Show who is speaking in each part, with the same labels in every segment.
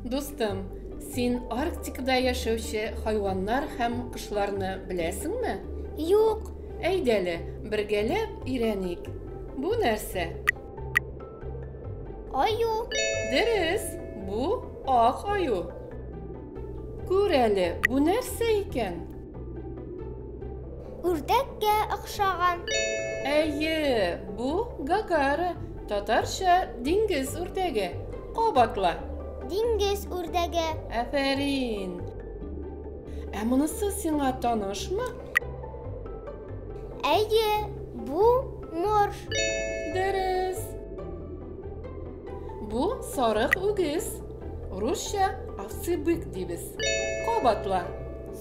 Speaker 1: Дустым, син Арктикада яшәүче хайваннар һәм кошларны беләсеңме? Юк.
Speaker 2: Әйдәле,
Speaker 1: бергәләп өйрәник. Бу нәрсә?
Speaker 2: Аю. Дөрес,
Speaker 1: бу ак аю. Күр әле, бу нәрсә икән?
Speaker 2: Үрдәккә охшаган. Әйе,
Speaker 1: бу гагара, татарча диңгез үрдәге. Кабатла. Диңгез
Speaker 2: үрдәге. Афәрин.
Speaker 1: Ә монысы сиңа танышмы?
Speaker 2: Әйе, бу морж. Дөрес.
Speaker 1: Бу сарык үгез. Русча аксы бык дибез. Кабатла.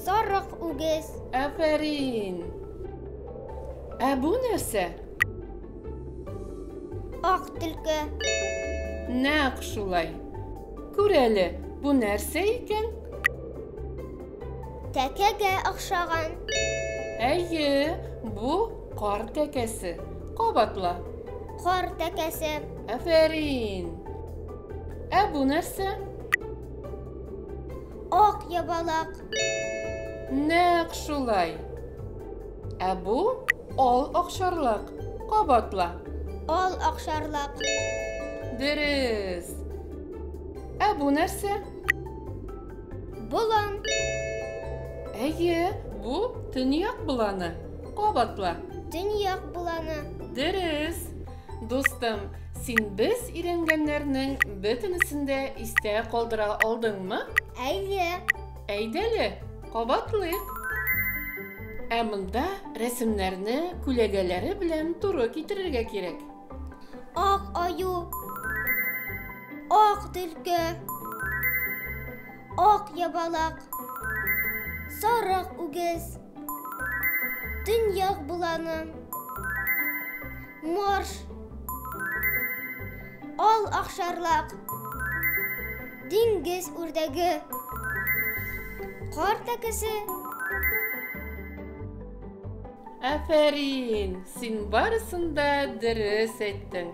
Speaker 1: Сарык
Speaker 2: үгез. Афәрин.
Speaker 1: Ә бу нәрсә?
Speaker 2: Ак төлке.
Speaker 1: Нәкъ шулай. Күр әле, бу нәрсә икән?
Speaker 2: Тәкәгә охшаган. Әйе,
Speaker 1: бу кар тәкәсе. Кабатла. Кар
Speaker 2: тәкәсе. Афәрин.
Speaker 1: Ә бу нәрсә?
Speaker 2: Ак ябалак.
Speaker 1: Нәкъ шулай. Ә бу ал акшарлак. Кабатла. Ал
Speaker 2: акшарлак.
Speaker 1: Дөрес. Ә бу нәрсә? Болан. Әйе, бу төньяк боланы. Кабатла. Төньяк
Speaker 2: боланы. Дөрес.
Speaker 1: Дустым, син без өйрәнгәннәрнең бөтенесен дә истә калдыра алдыңмы? Әйе.
Speaker 2: Әйдәле,
Speaker 1: кабатлыйк. Ә монда рәсемнәрне күләгәләре белән туры китерергә кирәк. Ак
Speaker 2: аю. Ак төлке. Ак ябалак. Сарык үгез. Төньяк боланы. Марш. Ал ахшарлак. Диңгез үрдәге. Кар тәкесе.
Speaker 1: Афәрин, син барысын да дөрес әйттең.